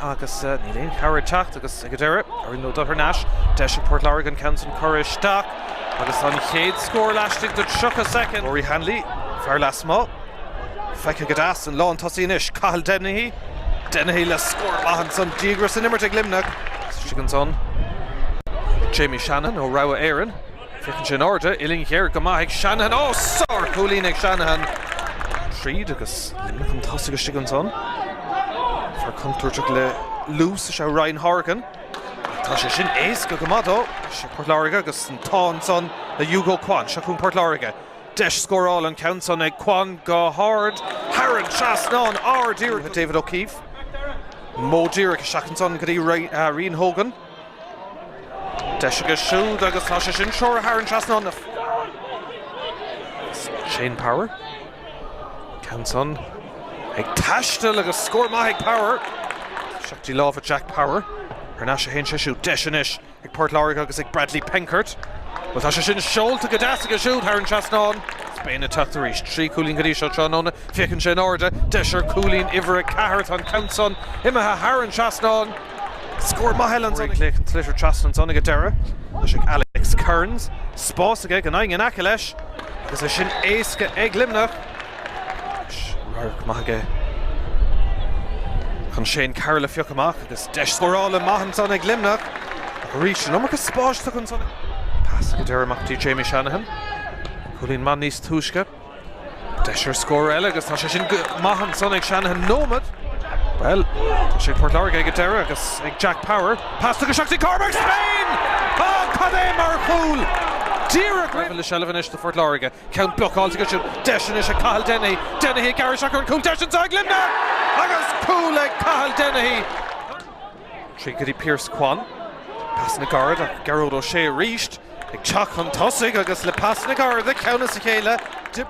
agus níl aon chabhair ag teacht agus ag an deireadh ar ndóigh dul thar n-ais, deis ag Port Láirge an ceann sin a chur isteach agus tá an chéad scór laistigh de 30 soicind. Rory Hanley, fear lasmuigh, feicthe go deas, an lántosaí anois, Cathal Dennehy, Dennehy le scór maith ansan díograis san imirt ag Luimneach. Istigh ansan ag Jamie Shannon ó Rogha Éireann. Féachann sé in airde, uillinn ghéar go maith ag Shanahan. Ó! Sárchúilín ag Shanahan. Tríd agus Luimneach chun tosaigh istigh ansan. Fear contúirteach le luas is ea Ryan Horgan. Tá sé sin éasca go maith dó. Seo Port Láirge agus an t-ádh ansan le Hugo Quann. Seo chugainn Port Láirge. Deis scórála an ceann san ag Quann go hard. Thar an trasnán, ard díreach David O'Keefe. Modh díreach isteach ansan go dtí Rian Hogan. Deis aige siúd agus tá sé sin treoraithe thar an trasnán. Shane Power. Ceann san ag taisteal agus scór maith ag Power. Isteach i láimh Jack Power. Ar n-ais a théann sé siúd. Deis anois ag Port Láirge agus ag Bradley Penkert. Bhuel tá sé sin seolta go deas aige siúd thar an trasnán. Spain ag teacht arís. Trí chúilín go dtí seo tráthnóna. Féachann sé in airde. Deis ar chúilín uimhir a ceathair. Tá an ceann san imithe thar an trasnán. Scór maith eile ansan. Sliotar trasna ansan ag an deireadh. Deis ag Alex Kearns spás aige gan éinne in aice leis agus é sin éasca ag Luimneach. Radharc maith aige chun Shane Carroll a phiocadh amach agus deis scórála maith ansan ag Luimneach arís an iomarca spáis tugtha ansan. Pas ag an deireadh amach go dtí Jamie Shanahan. Cúilín maith níos túisce. Deis ar scór eile agus tá sé sin go maith ansan ag Shanahan. Nóiméad. Bhuel, tá sé ag Port Láirge ag an deireadh agus ag Jack Power. Pas tugtha isteach go dtí Cormac Spain! Á, cad é mar chúl! Díreach roimh an. Seilbh anois do Phort Láirge. Ceann blocáilte acu siúd. Deis anois ag Cathal Dennehy. Dennehy ag gearradh isteach ar an gcúl. Deis anseo ag Luimneach agus cúl ag Cathal Dennehy! Tríd go dtí Pearse Quann, pas ina ghar ach Gearóid Ó Sé arís ag teacht chun tosaigh agus le pas ina ghar dá chomhghleacaí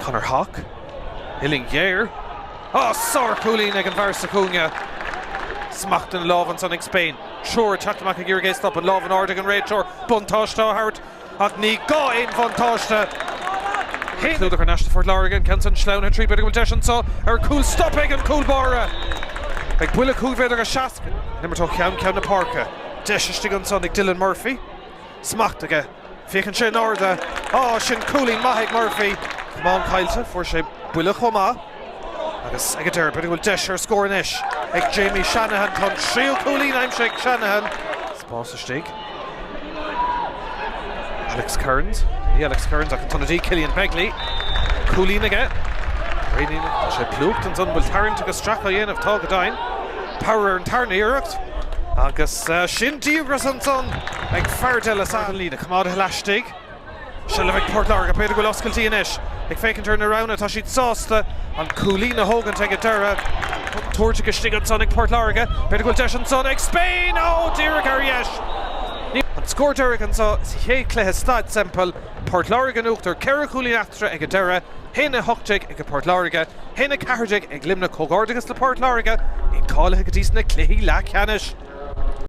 Conor Hauck. Uillinn ghéar. Á! Sár chúilín ag an bhfear sa chúinne. Smacht den lámh ansan ag Spain. Triúr ag teacht amach ag iarraidh é a stopadh. Lámh in airde ag an réiteoir. Buntáiste á thabhairt. Ach ní gá aon bhuntáiste clúdach ar n-ais do Phort Láirge. An ceann san sleamhnaithe tríd, b'fhéidir go bhfuil deis anseo ar chúl stopaithe ag an gcúl báire. Beidh buille cúig mhéadar is seasca le n-imirt ó cheann ceann na páirce. Deis istigh ansan ag Dylan Murphy. Smacht aige. Féachann sé in airde. Á, sin cúilín maith ag Murphy. Camán caillte. Fuair sé buille chomh maith. Agus ag an deireadh, b'fhéidir go bhfuil deis ar scór anois ag Jamie Shanahan. Tá an tríú cúilín aimsithe ag Shanahan. Spás istigh Alex Kearns. Ní Alex Kearns ach an t-ionadaí Cillian Begley. Cúilín aige. Réitíonn sé plúchta ansan. An bhfuil tarraingt agus stracadh á dhéanamh? Tá go deimhin. Power ar an tarna iarracht. Agus sin díograis ansan ag Fardell ar an líne. Coimeádtha laistigh. Seilbh ag Port Láirge, b'fhéidir go bhfuil oscailtí anois. Ag féachaint ar na roghanna, tá siad sásta an cúilín a thógaint ag an deireadh. Tabhartha go istigh ansan ag Port Láirge, b'fhéidir go bhfuil deis ansan ag Spain! Ó, díreach ar dheis! An scór deiridh anso sa chéad chluiche Staid Semple, Port Láirge in in uachtar, ceithre chúilín eatarthu ag an deireadh, haon a hocht déag ag Port Láirge, haon a ceathair déag ag Luimneach. Comhghairdeachas le Port Láirge, iad cáilithe go dtí sna cluichí leathcheannais.